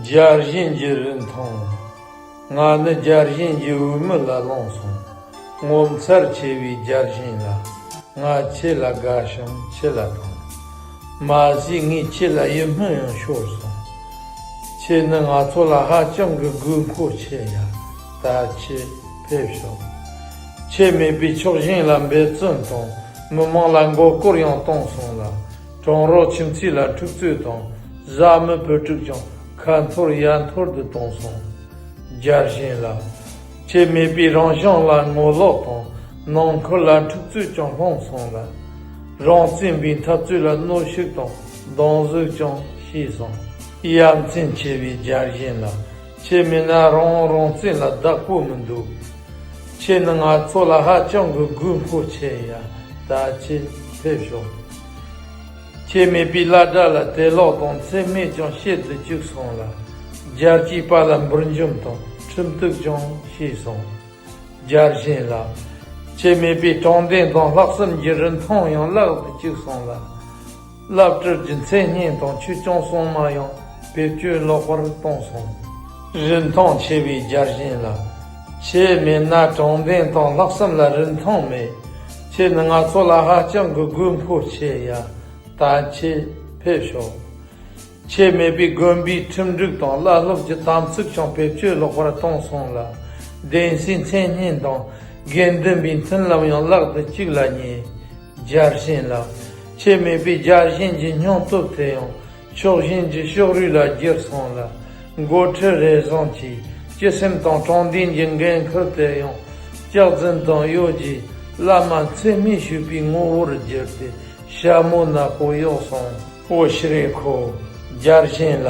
སྦྱར་བཞིན་གྱི་རི་མཐོང། ང་ནི་སྦྱར་བཞིན་གྱི་འོས་མི་ལ་ལོངས་སོང། ངོ་མཚར་ཆེ་བའི་སྦྱར་བཞིན་ལ། ང་ཁྱེད་ལ་དགའ་ཞིང་ཁྱེད་ལ་ཕངས། མ་གཞི་ངས་ཁྱེད་ལ་ཡིད་སྨོན་ཡང་ཤོར་སོང། ཁྱེད་ནི་ང་ཚོ་ལ་ཧ་ཅང་གི་དགོས་མཁོ་ཆེ་ཡ། ད་ཁྱེད་ཕེབས་ཤོག། ཁྱེད་མེད་པའི་ཕྱོགས་ཞེན་ལ་འབད་བརྩོན་དང་མི་མང་ལ་མགོ་སྐོར་ཡང་གཏོང་སོང་ལ། གྲང་རོགས་ཁྱིམ་མཚེས་ལ་འཁྲུག་རྩོད་དང་བཟའ་མི་བུ་ཕྲུག་ཀྱང་ཁ་འཐོར་ཡ་འཐོར་དུ་གཏོང་སོང། རྒྱར་ཞེན་ལ། ཆེད་མེད་པའི་རང་བྱུང་ལ་ངོ་ལོག་དང་ནང་ཁུལ་ལ་འཁྲུག་རྩོད་ཀྱང་སློང་སོང་ལ། རང་བཙན་པའི་འཐབ་རྩོད་ལ་གནོད་ཤུགས་དང་སྡང་གཟུགས་ཀྱང་ཤེས་སོང། ཡ་མཚན་ཆེ་བའི་རྒྱ་གཞན་ལ་ཆེད་མེད་ན་རང་རང་བཙན་ལ་བདག་པོ་མི་འདུག་ཁྱེད་ནི་ང་ཚོ་ལ་ཧ་ཅང་གི་གུས་མཁོ་ཆེ་ཡ་ད་ཆེད་ཕེབས་ཤོག། ཁྱེད་མེད་པའི་བླ་གྲྭ་ལ་དད་ལོག་དང་འཚེ་སྨད་ཀྱང་བཤད་དུ་བཅུག་སོང་ལ། རྒྱལ་སྤྱིའི་པར་ལ་འབུར་འཇོམས་དང་ཁྲིམས་གཏུགས་ཀྱང་བྱས་སོང། རྒྱལ་གཞན་ལ། ཁྱེད་མེད་པའི་དྲང་བདེན་དང་ལྷག་བསམ་གྱི་རིན་ཐང་ཡང་བརླག་ཏུ་བཅུག་སོང་ལ། བླ་སྤྲུལ་གྱི་མཚན་སྙན་དང་ཆོས་སྐྱོང་སྲུང་མ་ཡང་བེད་སྤྱོད་ལོག་པར་བཏང་སོང། རིན་ཐང་ཆེ་བའི་རྒྱལ་གཞན་ལ། ཁྱེད་མེད་ན་དྲང་བདེན་དང་ལྷག་བསམ་ལ་རིན་ཐང་མེད། ཁྱེད་ནི་ང་ཚོ་ལ་ཧ་ཅང་གི་གུས་འཕོ་ཆེ་ཡ་ད་ཁྱེད་ཕེབས་ཤོག་ཁྱེད་མེད་པའི་དགོན་པའི་ཁྲིམས་སྒྲིག་དང་བླ་སློབ་ཀྱི་དམ་ཚིག་ཀྱང་བེད་སྤྱོད་ལོག་པར་བཏང་སོང་ལ་གདན་སའི་མཚན་སྙན་དང་དགེ་འདུན་པའི་མཐུན་ལམ་ཡང་བརླག་ཏུ་བཅུག་ལ་ཉེ། རྒྱལ་གཤེན་ལགས་ཁྱེད་མེད་པའི་རྒྱལ་གཤེན་གྱི་སྙིང་སྟོབས་དེ་ཡང་ཕྱོགས་ཞེན་གྱི་ཤོག་རུས་ལ་སྒྱུར་སོང་ལ། འགོ་ཁྲིད་རེ་ཟུང་གིས་སྤྱི་སེམས་དང་དྲང་བདེན་གྱི་འགན་ཁུར་དེ་ཡང་སྐྱག་རྫུན་དང་གཡོ་ཇུས་བླ་མ་འཚེ་མེད་ཞུས་པའི་ངོ་བོར་བསྒྱུར་ཏེ་ཞྭ་མོ་ནག་པོ་གཡོགས་སོང། བོད་ཤི་རེ་ཁོ་རྒྱལ་གཞན་ལ་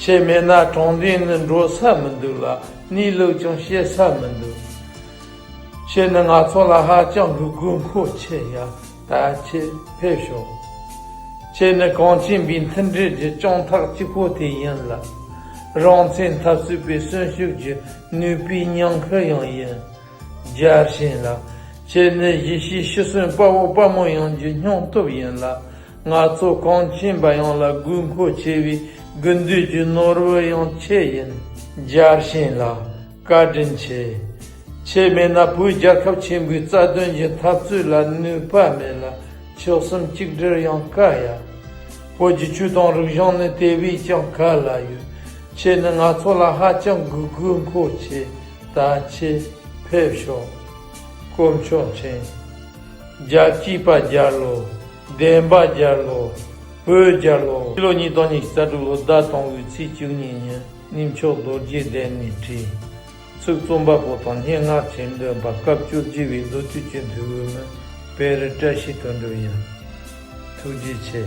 བྱེད་མེད་ན་དྲང་བདེན་ནི་འགྲོ་ས་མི་འདུག་ལ་གནས་ལུགས་ཀྱང་བཤད་ས་མི་འདུག་བྱས་ནི་ང་ཚོ་ལ་ཧ་ཅང་གི་དགོས་མཁོ་ཆེ་ཡ་ད་ཁྱེད་ཕེབས་ཤོག། ཁྱེད་ནི་གངས་ཅན་པའི་མཐུན་སྒྲིལ་གྱི་སྤྱང་ཐག་གཅིག་པོ་དེ་ཡིན་ལ། རང་བཙན་འཐབ་རྩོད་པའི་གསོན་ཤུགས་ཀྱི་ནུས་པའི་ཉང་ཁུ་ཡང་ཡིན། རྒྱལ་གཤེན་ལགས། ཁྱེད་ནི་ཡེ་ཤེས་ཤི་གསོན་དཔའ་བོ་དཔའ་མོ་ཡོངས་ཀྱི་སྙིང་སྟོབས་ཡིན་ལ། ང་ཚོ་གངས་ཅན་པ་ཡོངས་ལ་དགོས་མཁོ་ཆེ་བའི་དགུན་དུས་ཀྱི་ནོར་བུ་ཡང་ཁྱེད་ཡིན། རྒྱལ་གཤེན་ལགས། བཀའ་དྲིན་ཆེ། ཁྱེད་མེད་ན་བོད་རྒྱལ་ཁབ་ཆེན་པོའི་རྩ་དོན་གྱི་འཐབ་རྩོད་ལ་ནུས་པ་མེད་ལ་ཕྱོགས་གསུམ་གཅིག་སྒྲིལ་ཡང་དཀའ་ཡ། བོད་ཀྱི་ཆོས་དང་རིག་གཞུང་ནི་དེ་བས་ཀྱང་ག་ལ་ཡོད། ཁྱེད་ནི་ང་ཚོ་ལ་ཧ་ཅང་གི་དགོས་མཁོ་ཆེ་ད་ཁྱེད་ཕེབས་ཤོག་དཀོན་མཆོག་མཁྱེན། རྒྱལ་གཅེས་པ་རྒྱལ་ལོ། བདེན་པ་རྒྱལ་ལོ། བོད་རྒྱལ་ལོ། ཕྱི་ལོ་ཉིས་སྟོང་ཉེར་གཅིག་རྩ་དྲུག་ལོ་ཟླ་སྟོང་བའི་ཚེས་བཅུ་གཉིས་ཉིན། གནས་མཆོག་རྡོ་རྗེ་གདན་ནས་བྲིས། ཚིག་རྩོམ་པ་པོ་དང་སྙན་ངག་གྱེར་འདོན་པ་སྐབས་བཅུ་བཞི་བའི་མདོ་དུས་སྤྱི་འཐུས་འོས་མི་དཔལ་རི་བཀྲ་ཤིས་དོན་འགྲུབ་ཡིན། ཐུགས་རྗེ་ཆེ།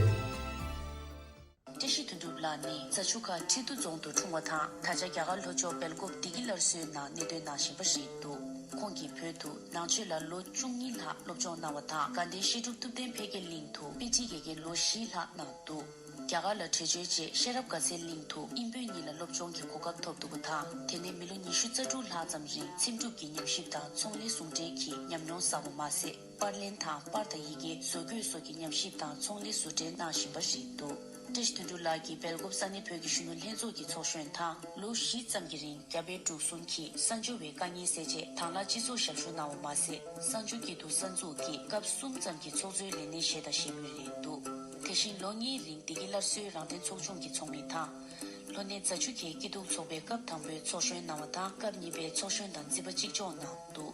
བཀྲ་ཤིས་དོན་འགྲུབ་ལགས་ནི་རྫ་ཆུ་ཁ་ཁྲི་མདོ་རྫོང་དུ་འཁྲུངས་བ་དང་ད་ཆ་རྒྱ་གར་ལྷོ་ཕྱོགས་སྦེལ་ཀོབ་བདེ་སྐྱིད་སླར་གསོའི་ནང་གནས་སྡོད་གནང་བཞིན་པ་རེད་འདུག་ཁོང་གིས་བོད་དུ་ནང་ཆོས་ལ་ལོ་བཅུ་གཉིས་ལྷག་སློབ་སྦྱོང་གནང་བ་དང་དགའ་ལྡན་བཤད་སྒྲུབ་ཐུབ་བསྟན་འཕེལ་རྒྱས་གླིང་དུ་དཔེ་ཁྲིད་ཀྱི་དགེ་ལོ་བཞི་ལྷག་གནང་འདུག། རྒྱ་གར་ལ་བྲེལ་བྱོལ་རྗེས་ཤེས་རབ་དགའ་ཚལ་གླིང་དུ་དབྱིན་བོད་གཉིས་ལ་སློབ་སྦྱོང་གི་གོ་སྐབས་ཐོབ་འདུག་པ་དང་དེ་ནས་མི་ལོ་ཉི་ཤུ་རྩ་དྲུག་ལྷག་ཙམ་རིང་འཚེམ་དྲུབ་ཀྱི་ཉམས་ཞིབ་དང་ཚོང་ལས་ཟུང་འབྲེལ་གྱི་ཉམས་མྱོང་བསགས་པ་མ་ཟད་པར་ལེན་དང་པར་དང་ཡི་གེ་བཟོ་བཀོད་སོགས་ཀྱི་ཉམས་ཞིབ་དང་ཚོང་ལས་བཟོ་འབྲེལ་གནང་བཞིན་པ་རེད་འདུག་ཀྲེཤ་དོན་གྲུབ་ལགས་ཀྱིས་སྦེལ་ཀོབ་ས་གནས་བོད་ཀྱི་གཞོན་ནུ་ལྷན་ཚོགས་ཀྱི་ཚོགས་གཞོན་དང་ལོ་བཞི་ཙམ་གྱི་རིང་རྒྱ་བལ་འབྲུག་གསུམ་གྱི་གསར་འབྱོར་བའི་དཀའ་ངལ་སེལ་ཆེད་དྭང་བླངས་སྤྱི་ཚོགས་ཞབས་ཞུ་གནང་བ་མ་ཟད་གསར་འབྱོར་སྐྱིད་སྡུག་གསར་འཛུགས་ཀྱི་སྐབས་གསུམ་ཙམ་གྱི་ཚོགས་གཙོའི་ལས་སྣེ་བཞེས་དང་བཞེས་མུས་རེད་འདུག། དེ་བཞིན་ལོ་གཉིས་རིང་བདེ་སྐྱིད་སླར་གསོའི་རང་བརྟེན་ཚོགས་ཆུང་གི་ཚོགས་མི་དང། ལྷོ་སྣེ་རྫ་ཆུ་ཁའི་སྐྱིད་སྡུག་ཚོགས་པའི་སྐབས་དང་པོའི་ཚོགས་གཞོན་གནང་བ་དང་སྐབས་གཉིས་པའི་ཚོགས་གཞོན་དང་རྩིས་པ་གཅིག་ལྕོགས་གནང་འདུག།